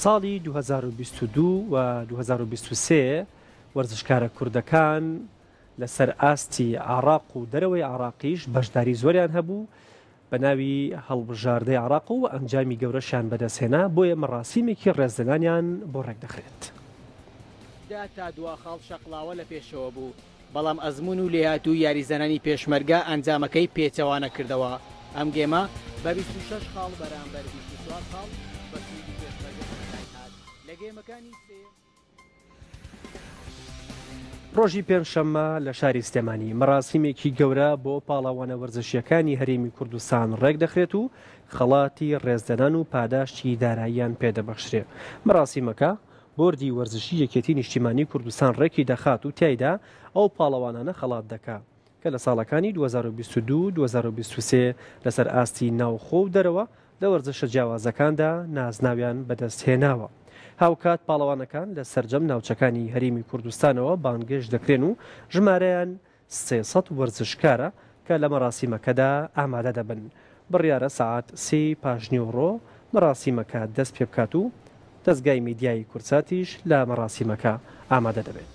ساڵی دوو هەزار و بیست و دوو و دوو هەزار و بیست و سێ وەرزشکارە کوردەکان لەسەر ئاستی عێراق و دەرەوەی عێراقیش بەشداری زۆریان هەبوو بە ناوی هەڵبژاردەی عێراق و ئەنجامی گەورەشیان بەدەستهێنا بۆیە مەڕاسیمێکی ڕێزلێنانیان بۆ ڕێکدەخرێت. دا تا دوا خاڵ شەقڵاوە لە پێشەوە بوو. بەڵام ئەزموون و لێهاتووی یاریزانانی پێشمەرگە ئەنجامەکەی پێچەوانە کردەوە، ئەم گێمە بە بیست و شەش خاڵ بەرامبەر بیست و چوار خاڵ بە سوودی پێشمەرگە کۆتاییهات لە گێمەکانی سێیەم. ڕۆژی پێنجشەممە لە شاری سلێمانی مەراسیمێکی گەورە بۆ پاڵەوانە وەرزشییەکانی هەرێمی کوردستان ڕێکدەخرێت و خەڵاتی ڕێزلێنان و پاداشتی داراییان پێدەبەخشرێ، مەراسیمەکە بۆردی وەرزشی یەکێتی نیشتیمانی کوردستان ڕێکی دەخات و تیایدا ئەو پاڵەوانانە خەڵات دەکا کە لە ساڵەکانی دوو هەزار و بیست و دوو، دوو هەزار و بیست و سێ لەسەر ئاستی ناوخۆ و دەرەوە لە وەرزشە جیاوازەکاندا نازناویان بەدەست هێناوە. هاوکات پاڵەوانەکان لە سەرجەم ناوچەکانی هەرێمی کوردستانەوە بانگێشت دەکرێن و ژمارەیان سێ سەد وەرزشکارە کە لە مەراسیمەکەدا ئامادە دەبن، بڕیارە سەعات سێی پاشنیوەڕۆ مەراسیمەکە دەست پێ بکات و دەزگای میدیایی کوردساتیش لە مەراسیمەکە ئامادە دەبێت.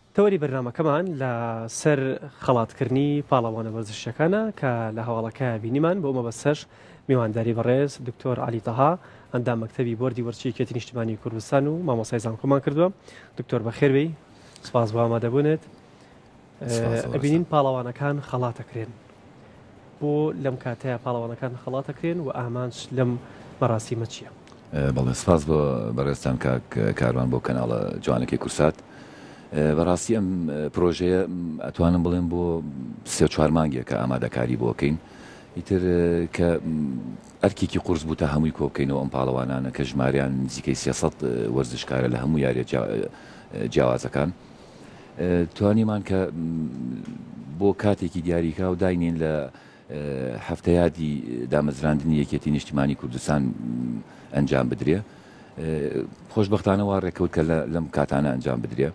تەوەری بەرنامەکەمان لە سەر خەڵات کردنی پاڵەوانە وەرزشیەکانە کە لە هەواڵەکە بینیمان بۆ مەبەستەش میوانداری بەڕێز دکتۆر عەلی تەها ئەندام مەکتەبی بۆردی وەرچی یەکێتی نیشتمانی کوردستان و مامۆسای زانکۆمان کردووە دکتۆر بەخێربی سپاس بۆ ئامادەبوونێت ئەبینین پاڵەوانەکان خەڵاتەکرێن بۆ لەم کاتەیە پاڵەوانەکان خەڵات ئەکرێن و ئامانج لەم مەراسیمە چییە؟ بەڵێ سپاس بۆ بەڕێزتان کاک کاروان بۆ کەناڵە جوانەکەی کورسات بەڕاستی ئەم پرۆژەیە ئەتوانم بڵێم بۆ سێ چوار مانگێکە ئامادەکاری بۆکەین ئیتر کە ئەرکێکی قورس بوو تا هەمووی کۆبکەینەوە ئەم پاڵەوانانە کە ژماریان نزیکەی سێسەد وەرزشکارە لە هەموو یاریە جیاوازەکان توانیمان کە بۆ کاتێکی دیاریکراو داینێین لە هەفتەیادی دامەزراندنی یەکێتی نیشتیمانی کوردستان ئەنجام بدرێ. خۆشبەختانە وا ڕێکەوت کە لەم کاتانە ئەنجام بدرێ.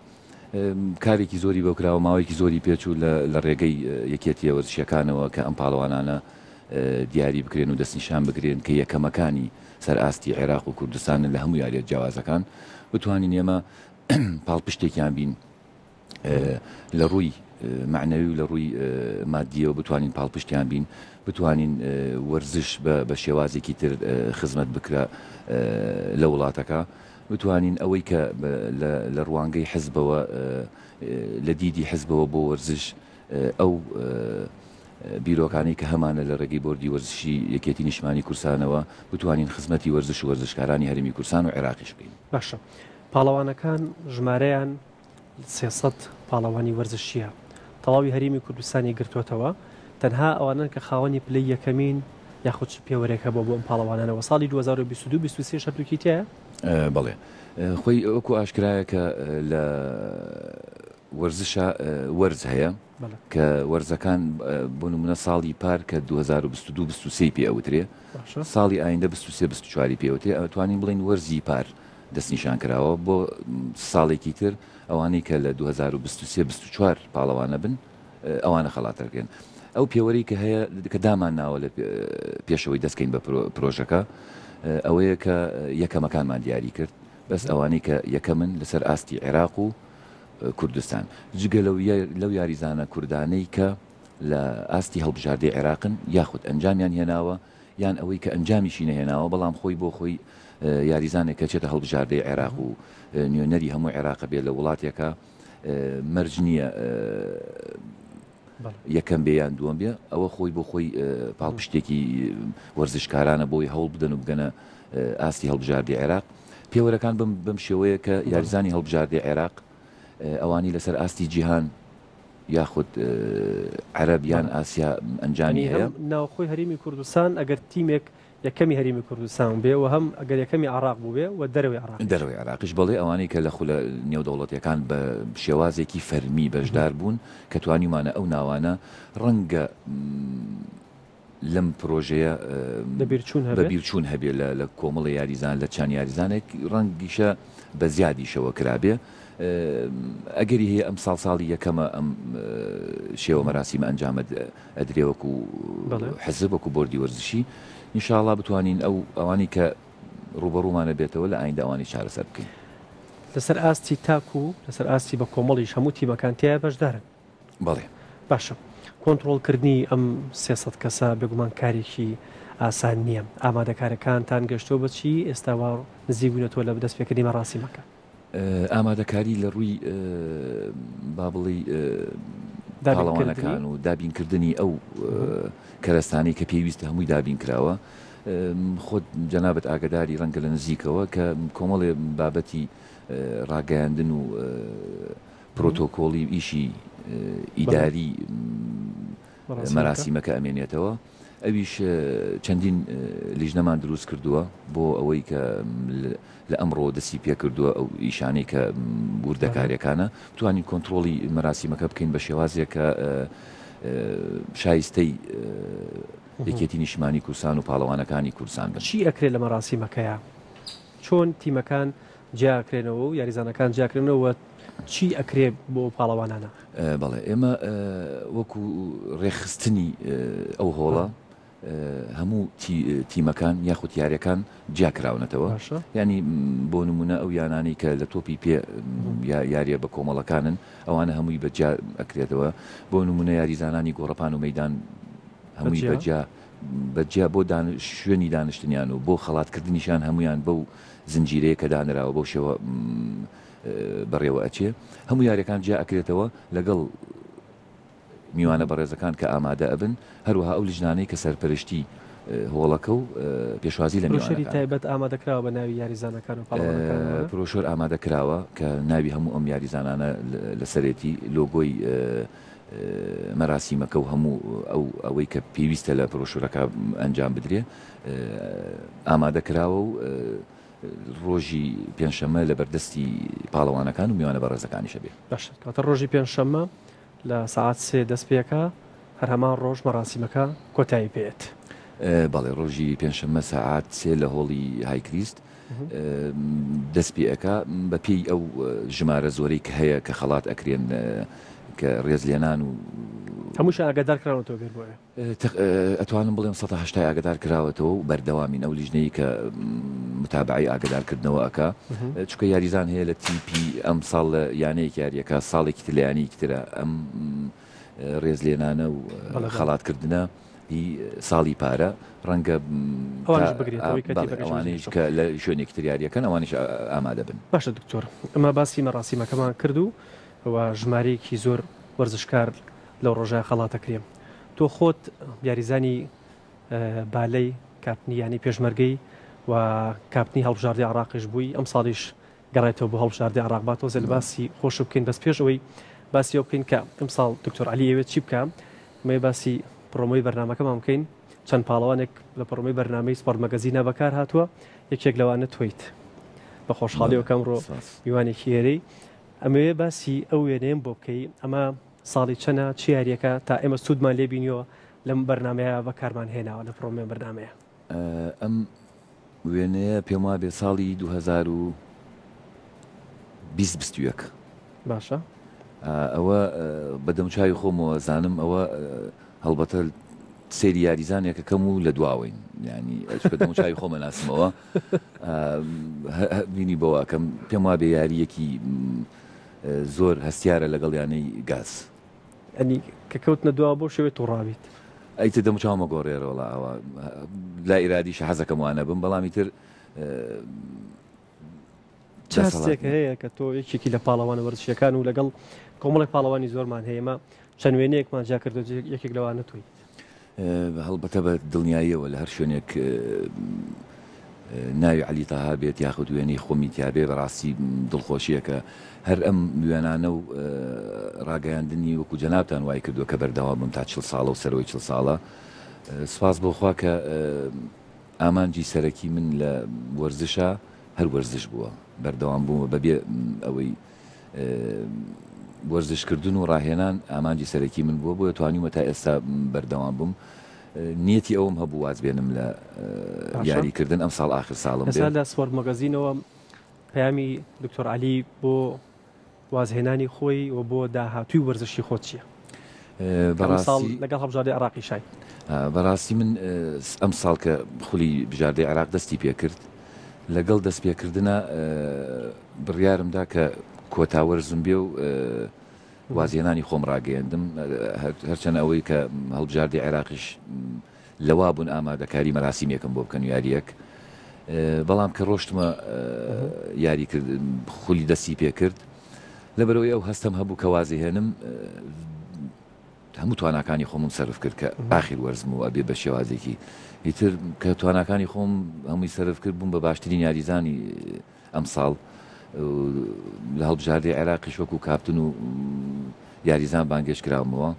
کارێکی زۆری بۆ کراوە، ماوەیەکی زۆری پێچوو لە ڕێگەی یەکێتییە وەرزشییەکانەوە کە ئەم پاڵەوانانە دیاری بکرێن و دەستنیشان بکرێن کە یەکەمەکانی سەر ئاستی عێراق و کوردستانن لە هەموو یارییە جیاوازەکان. بتوانین ئێمە پاڵپشتێکیان بین لە ڕووی معنەوی و لە ڕووی مادیەوە بتوانین پاڵپشتیان بین بتوانین وەرزش بە شێوازێکی تر خزمەت بکرە لە وڵاتەکە بتوانین ئەوەی کە لە ڕوانگەی حزبەوە لە دیدی حزبەوە بۆ وەرزش ئەو بیرۆکانی کە هەمانە لە ڕێگەی بردی وەرزشی یەکێتی نیشمانی کورسانەوە بتوانین خزمەتی وەرزش و وەرزشکارانی هەرمی کورسان و عێراقیش بکەین باشە پاڵەوانەکان ژمارەیان سێ سەد پاڵەوانی وەرزشییە تەواوی هەرێمی کوردستانی گرتووەتەوە، تەنها ئەوانەن کە خاوەنی پلەی یەکەمین یاخود چ پێوەرێک هەبووە بۆ ئەم پاڵەوانانە و ساڵی دوو هەزار و بیست و دوو بیست و سێ شەرتوکی تیایە؟ بەڵێ خۆی وەکو ئاشکرایە کە لە وەرزشا وەرز هەیە کە وەرزەکان بۆ نمونە ساڵی پار کە 2022 23 پێ ئەوترێ ساڵی ئایندە 23 24 پێوتێ ئەتوانین بڵین وەرزی پار دەستنیشانکراوە بۆ ساڵێکی تر، ئەوانەی کە لە دوو هەزار و بیست و سێ بیست و چوار پاڵەوانە بن ئەوانە خەڵات دەکرێن. ئەو پێوەرەی کە هەیە کە دامانناوە لە پێش ئەوەی دەستکەین بە پرۆژەکە ئەوەیە کە یەکەمەکانمان دیاری کرد بەس ئەوانەی کە یەکەمن لەسەر ئاستی عێراق و کوردستان جگە لەو یاریزانە کوردانەی کە لە ئاستی هەڵبژاردەی عێراقن یاخود ئەنجامیان هێناوە یان ئەوەی کە ئەنجامیشی نەهێناوە، بەڵام خۆی بۆ خۆی یاریزانێک کە چێتە هەڵبژاردەی عێراق و نوێنەری هەموو عێراق بێت لە وڵاتێکا مەرج نییە یەکەم بێ یان دووەم بێ ئەوە خۆی بۆ خۆی پاڵپشتێکی وەرزشکارانە بۆی هەوڵ بدەن و بگەنە ئاستی هەڵبژاردی عێراق پێوەرەکان بم بەم شێوەیە کە یاریزانی هەڵبژاردی عێراق ئەوانی لەسەر ئاستی جیهان یاخود عەرەب یان ئاسیا ئەنجامی هەیە؟ هەم ناوخۆی هەرێمی کوردستان ئەگەر تیمێک یەکەمی هەرێمی کوردستان بێ و هەم ئەگەر یەکەمی عێڕاق بووبێ و دەرەوەی عێڕاقیش. دەرەوەی عێڕاقیش بەڵی ئەوانەی کە لە خولە نێودەوڵەتیەکان بە شێوازێکی فەرمی بەشدار بوون کە توانیومانە ئەو ناوانە ڕەنگە لەم پرۆژەیە بەبیرچوون هەبێ لە کۆمەڵی یاریزان لە چەند یاریزانێک ڕەنگیشە بە زیادیشەوە کرابێ ئەگەری هەیە ئەم ساڵ ساڵی یەکەمە ئەم شێوە مەراسیمە ئەنجامە ئەدرێ وەکو حەزب وەکو بردی وەرزشی نیشاڵا بتوانین ئەو ئەوانی کە ڕوبەڕوومانە بێتەوە لە ئایندە ئەوانی چارەسەر بکەین. لەسەر ئاستی تاک و لەسەر ئاستی بە کۆمەڵیش هەموو تیمەکان تیا بەشدارن. بەڵێ. باشە کۆنتڕۆڵ کردنی ئەم سێ سەد کەسە بێگومان کارێکی ئاسان نییە، ئامادەکارەکانتان گەشتووە بە چی، ئێستا وا نزیک بوونەتەوە لە دەست پێکردنی مەراسیمەکە؟ ئامادەکاری لە ڕووی با بڵێی پاڵەوانەکان و دابین کردنی ئەو کەرەستانەی کە پێویستە هەمووی دابین کراوە، خۆت جەنابەت ئاگداری ڕەنگە لە نزیکەوە کە کۆمەڵێ بابەتی ڕاگەیاندن و پرۆتۆکۆڵی و ئیشی ئیداری مەراسیمەکە ئەمێنێتەوە، ئەویش چەندین لیژنەمان دروست کردووە بۆ ئەوەی کە لە ئەمڕۆوە دەستی پێکردووە ئەو ئیشانەی کە وردەکاریەکانە بتوانین کۆنترۆڵی مەراسیمەکە بکەین بە شێوازێک کە شایستەی یەکێتی نیشمانی کوردستان و پاڵەوانەکانی کوردستان بن. چی ئەکرێت لە مەراسیمەکەیا؟ چۆن تیمەکان جیاکرێنەوە و یاریزانەکان جیاکرێنەوە چی ئەکرێ بۆ پاڵەوانانە؟ بەڵێ ئێمە وەکو ڕێکخستنی ئەو هۆڵە هەموو تیمەکان یاخود یاریەکان جیاکراونەتەوە ینی بۆ نمونە ئەو یانانی کە لە تۆپی پێ یاریە بە کۆمەڵەکانن ئەوانە هەمووی بەجیا ئەکرێتەوە بۆ نمونە یاریزانانی گۆڕپان و مەدان هەمووی بەجیا بەجیا بۆ شوێنی دانیشتنیان و بۆ خەڵاتکردنیشان هەمویان بەو زنجیرەیەک کە دانراوە بەو شێوە بەڕێوە ئەچێ هەموو یاریەکان جیا ئەکرێتەوە لەگەڵ میوانە بەڕێزەکان کە ئامادە ئەبن هەروەها ئەو لیژنانەی کە سەرپەرشتی هۆڵەکە و پێشوازی لە پروشەری تایبەت ئامادەکراوە بە ناوی یاریزانەکان و پرۆشۆر ئامادە کراوە کە ناوی هەموو ئەم یاریزانانە لەسەرێتی لۆگۆی مەراسیمەکە و هەموو ئەو ئەوەی کە پێویستە لە پرۆشورەکە ئەنجام بدرێ ئامادە کراوە و ڕۆژی پێنجشەممە لە بەردەستی پاڵەوانەکان و میوانە بەڕێزەکانیش ئەبێ. باشە کەواتە ڕۆژی پێنجشەممە لە سەعات سێ دەست پێ ئەکا، هەر هەمان ڕۆژ مەراسیمەکە کۆتایی پێ ئەت؟ بەڵێ ڕۆژی پێنجشەممە سەعات سێ لە هۆڵی های کریست دەست پێ ئەکا، بە پێی ئەو ژمارە زۆرەی کە هەیە کە خەڵات ئەکرێن کە ڕێزلێنان و. هەمووشیان ئاگادار کراونەتەوە بێت بۆ ئێ؟ تخ ئەتوانم بڵێم سەتا هەشتای ئاگەدار کراوەتەوە و بەردەوامین ئەو لیژنەی کە متابعەی ئاگەدار کردنەوە ئەکا چونکە یاریزان هەیە لە تیپی ئەم ساڵ لە یانەیەک یاریەکە ساڵێکی تر لە یانەیەکی ترە ئەم ڕێز لێنانە و خەڵات کردنە هی ساڵی پارە ڕەنگە ئەوانش بگرێت ئەوەی کە تیپەکەش ئەوانەیش بگرێت. کە لە شوێنێکی تر یاریەکەن ئەوانش ئامادە بن باشە دکتۆر ئەمە باسی مەراسیمەکەمان کرد و و ژمارەیەکی زۆر وەرزشکار لەو ڕۆژە خەڵاتە کرێم. تۆ خۆت یاریزانی بالەی کاپتنی یانەی پێشمەرگەی و کاپتنی هەڵبژاردەی عراقیش بووی ئەمساڵیش گەڕێتەوە بۆ هەڵبژاردەی عراق با تۆزێ باسی خۆش بکەین بەس پێش ئەوەی باسی ئەو بکەین کە ئەمساڵ دکتۆر علی ئەوێت چی بکە مێ باسی پرۆمۆی بەرنمەکەمان بکەین چەند پاڵەوانێک لە پڕۆمەی بەرنمەی سپۆرت مەگەزینا بەکار هاتووە یەکێک لەوانە تۆیت بە خۆشحاڵیەوەکەم ڕۆ میوانێکی ئێرەی ئەمەوێ باسی ئەو وێنەیەم بۆ بکەی ئەمە ساڵی چەنە چ یاریەکە تا ئێمە سودمان لێ بینیوە لەم بەرنامەیە بەکارمان هێناوە لە پرۆمێ بەرنامەیە. ئەم وێنەیە پێم وابێ ساڵی دوو هەزار و بیست بیست و یەک باشە ئەوە بە دەمچوی خۆمەوە زانم ئەوە هەڵبەتە سری یاریزانێکەکەم و لە دواوەین ینی بە دەمچوی خۆمە ناسمەوە بینی بەوەکەم پێم وابێ یاریەکی زۆر هەستیارە لەگەڵ یانەی گاز. یانی کە کەوتنە دواوە بەو شێوەیە توڕابیت. ئیتر دەم و چاوم ئەگۆڕێرە وەڵا ئەوە لای ئیرادیشە حەزەکەم وا نەبم بەڵام ئیتر چ هەستێک هەیە کە تۆ یەکێکی لە پاڵەوانە وەرزشیەکان و لەگەڵ کۆمەڵێک پاڵەوانی زۆرمان هەیە ئێمە چەند وێنەیەکمان جیا کردو یەکێک لەوانە تۆیت. هەڵبەتە بە دڵنیاییەوە لە هەر شوێنێک ناوی عەلی تەها بێت یاخود وێنەی خۆمی تیابێ بەڕاستی دڵخۆشیەکە هەر ئەم وێنانە و ڕاگەیاندنی وەکو جەنابان وای کردو کە بەردەوام بم تا چل ساڵە و سەرەوەی چل ساڵە سپاس بۆخوا کە ئامانجی سەرەکی من لە وەرزشە هەر وەرزش بووە بەردەوام بووە بەبێ ئەوەی وەرزشکردن و ڕاهێنان ئامانجی سەرەکی من بووە، بۆیە توانیومە تا ئێستا بەردەوام بم. نیەتی ئەوم هەبوو واز بێنم لە یاریکردن، ئەمساڵ ئاخر ساڵم بێت. لە سپۆرت مەگەزینەوە پەیامی دکتۆر عەلی بۆ وازهێنانی خۆی و بۆ داهاتووی وەرزشی خۆت چییە؟ لەگەڵ هەڵبژاردەی عراقی شای بەڕاستی من ئەم ساڵ کە خولی بژاردەی عراق دەستی پێکرد لەگەڵ دەست پێکردە بڕیارمدا کە کۆتاوەر زمبێ و وازیێنانی خۆم ڕاگەیاندم هەرچەند ئەوەی کە هەڵبژاردی عێراقیش لەوا بوون ئامادەکاری مەراسیمێکم بۆ بکەن و یاریەک بەڵام کە ڕۆشتمە یاری کرد خولی دەستی پێ کرد لەبەرەوەی ئەو هەستم هەبوو کە وازی هێنم هەموو تواناکانی خۆمم سرف کرد کە ئاخیر وەرزم و ئەبێ بە شێوازێکی ئیتر کە تواناکانی خۆم هەمووی سرف کرد بووم بە باشترین یاریزانی ئەم ساڵ لە هەڵبژاردی عێراقی شوەک و کاپتن و یاریزان بانگێش کراومەوە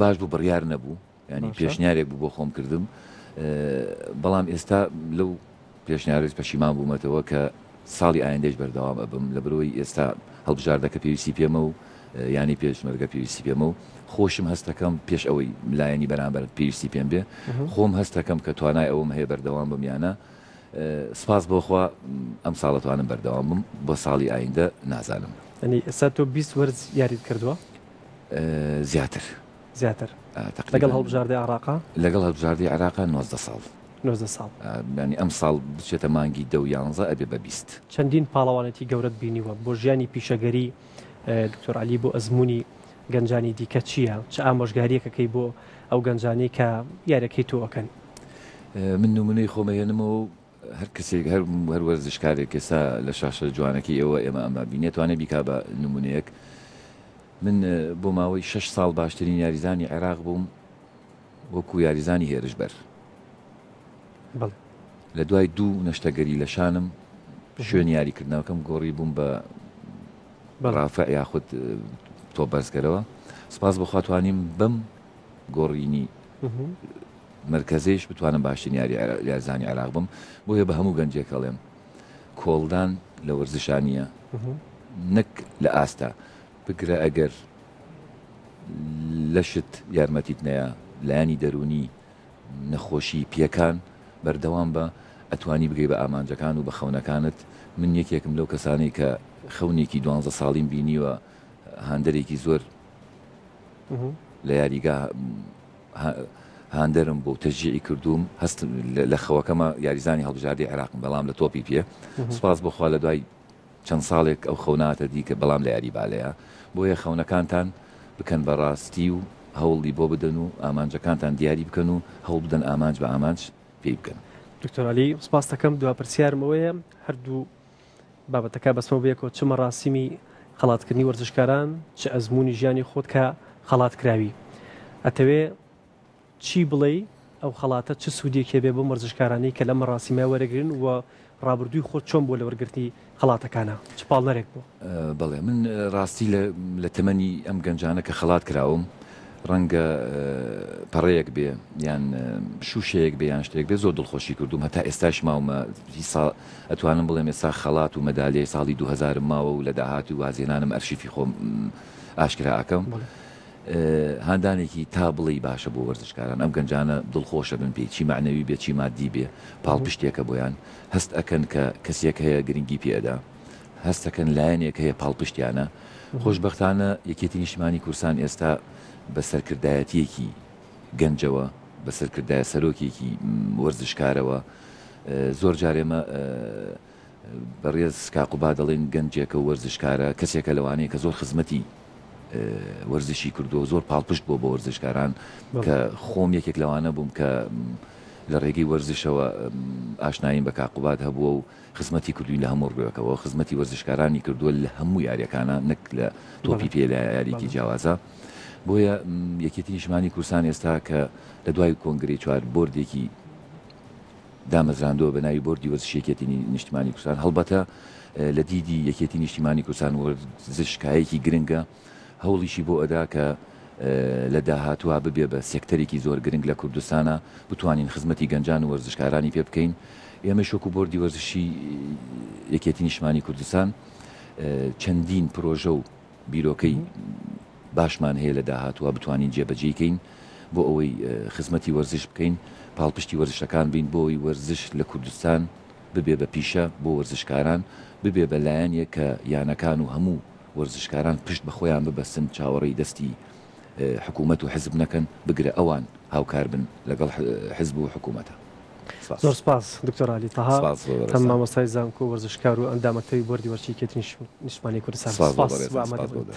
باش بوو بڕیار نەبوو یانی پێشنیارێک بوو بۆ خۆم کردم بەڵام ئێستا لەو پێشنیارێت پەشیمان بوومەتەوە کە ساڵی ئایندەش بەردەوام ئەبم لە برۆی ئێستا هەڵبژاردەکە پێویستی پێمە و ینی پێشمەرگە پێویستی پێمە و خۆشم هەستەکەم پێش ئەوەی لایەنی بەرامبەر پێویستی پێم بێ خۆم هەستەکەم کە توانای ئەوم هەیە بەردەوام بم یانە سپاس بۆخوا ئەم ساڵەتوانم بەردەوام بم بۆ ساڵی ئایندە نازانم ئەنی ئێستا تۆ 20 وەرز یاریت کردووە زیاتر زیاتر لەگەڵ تقریبا هەڵبژاردەی عێراقا لەگەڵ هەڵبژاردەی عێراقا نۆزدە ساڵ نۆزدە ساڵ. ئا یانی ئەمساڵ بچێتە مانگی دە و یانزە ئەبێ بە بیست. چەندین پاڵەوانێتی گەورەت بینیوە، بۆ ژیانی پیشەگەری دکتۆر عەلی بۆ ئەزموونی گەنجانی دیکە چییە؟ چ ئامۆژگارییەک ئەکەی بۆ ئەو گەنجانەی کە یاریەکەی تۆ ئەکەن؟ من نمونەی خۆم ئەهێنمەوە و هەر کەسێک هەر هەر وەرزشکارێک ئێستا لە شاشە جوانەکەی ئێوە ئێمە ئەمە بینێت توانێت بیکا بە نمونەیەک من بۆ ماوەی شش ساڵ باشترین یاریزانی عێراق بووم وەکو یاریزانی هێرش بەر بەڵێ. لە دوای دوو نەشتەگەری لە شانم شوێن یاریکردنەوەکەم گۆڕی بووم بە بەڵێ. ڕافع یاخود تۆ بەرزکەرەوە سپاس بەخواتوانیم بەم گۆڕینی مهم. مەرکەزیش بتوانم باشترین یاری یارزانی عێراق بم بۆیە بە هەموو گەنجێک ئەڵێم کۆڵدان لە وەرزشانە نەک لە ئاستە بگرە ئەگەر لەشت یارمەتیت نەیە لایانی دەرونی نەخۆشی پێکان بەردەوام بە ئەتوانی بگەی بە ئامانجەکان و بە خەونەکانت من یەکێکم لەو کەسانی کە خەونێکی دوانزە ساڵیم بینیوە هاندەرێکی زۆر لە یاریگا هاندەرم بوو تەشجیعی کردووم هەست لە خەوەکەمە یاریزانی هەڵبژاردەی عێراقم بەڵام لە تۆپی پێ سوپاس بۆخوا لە دوای چەند ساڵێک ئەو خەوناتە دیکە بەڵام لە یاری بالەیە بۆیە خەونەکانتان بکەن بە ڕاستی و هەوڵی بۆ بدەن و ئامانجەکانتان دیاری بکەن و هەوڵ بدەن ئامانج بە ئامانج پێی بکەن. دکتۆر عەلی سپاستەکەم دوا پرسیارم ئەوەیە هەردوو بابەتەکە بەسمەو بەیەکەوە چ مەراسیمی خەڵات کردنی وەرزشکاران چ ئەزموونی ژیانی خۆت کە خەڵات کراوی ئەتەوێ چی بڵێی ئەو خەڵاتە چ سوودێکی هەبێ بۆم وەرزشکارانەی کە لەم مەراسیمە وەرەگرن و ڕابردووی خۆت چۆن بووە لە وەرگرتنی خەڵاتەکانا چ پاڵنەرێک بووە؟ بەڵێ من ڕاستی لە لە تەمەنی ئەم گەنجانە کە خەڵات کراوم ڕەنگە پەڕەیەک بێ یان شووشەیەک بێ یان شتێک بێ زۆر دڵخۆشی کردوم هەتا ئێستاش ماومە سا ئەتوانم بڵێم ئێستا خەڵات و مەدالیای ساڵی 2000 ماوە و لە داهات و وازێنانم ئەرشیفی خۆم ئاشکرا ئەکەم. هاندانێکی تا بڵێی باشە بۆ وەرزشکاران ئەم گەنجانە دڵخۆشە بن پێی چی مەعنەوی بێ چی مادی بێ پاڵپشتێکە بۆیان هەست ئەکەن کە کەسێک هەیە گرنگی پێ ئەدا. هەستەکەن لایەنێک هەیە پاڵپشتیانە، خۆشبەختانە یەکێتی نیشتمانی کوردستان ئێستا بە سەرکردایەتیەکی گەنجەوە بە سەرکردایە سەرۆکێکی وەرزشکارەوە زۆر جار ئێمە بەڕێز کاک قوباد دەڵێن گەنجێکە و وەرزشکارە کەسێکە لەوانەیە کە زۆر خزمەتی وەرزشی کردو و زۆر پاڵپشت بۆ بۆ وەرزشکاران کە خۆم یەکێک لەوانە بووم کە لە ڕێگەی وەرزشەوە ئاشنایم بە کاقوباد هەبووە و خزمەتی کردووین لە هەموو ڕوێکەوە خزمەتی وەرزشکارانی کردووە لە هەموو یاریەکانە نەک لە تۆپی پێ لە یاریکی جیاوازە بۆیە یەکێتی نیشمانی کورسان ئێستا کە لە دوای کۆنگری چوار بردێکی دامەزراندووە بە ناوی بردی وەزشێکێتی نیشتمانی کوردستان هەڵبەتە لە دیدی یەکێتی نیشتیمانی کوردستان وەرزشکایەکی گرنگە هەوڵیشی بۆ ئەدا کە لە داهاتوا ببێ بە سێکتەرێکی زۆر گرنگ لە کوردستانا بتوانین خزمەتی گەنجان و وەرزشکارانی پێ بکەین ئێمەیش وەکو بۆردی وەرزشی یەکێتی نیشمانی کوردستان چەندین پرۆژە و بیرۆکەی باشمان هەیە لە داهاتوە بتوانین جێبەجێی کەین بۆ ئەوەی خزمەتی وەرزش بکەین پاڵپشتی وەرزشەکان بین بۆی وەرزش لە کوردستان ببێ بە پیشە بۆ وەرزشکاران ببێ بە لایەنێک کە یانەکان و هەموو وەرزشکاران پشت بە خۆیان ببەستن چاوەڕێی دەستی حکومەت و حزب نەکەن بگرە ئەوان هاوکار بن لەگەڵ حزب و حکومەتا. سپاس. زۆر سپاس دکتۆر علی تەها سپاس بۆ تەمەن بەڕێزتان. مامۆستای زانکۆ و وەرزشکار و ئەندامەکەی بۆردی وەرزشی یەکێتی نیشتمانی کوردستان سپاس بۆ سپاس بۆ بەڕێزتان ئامادە سپاس بۆ بوونت.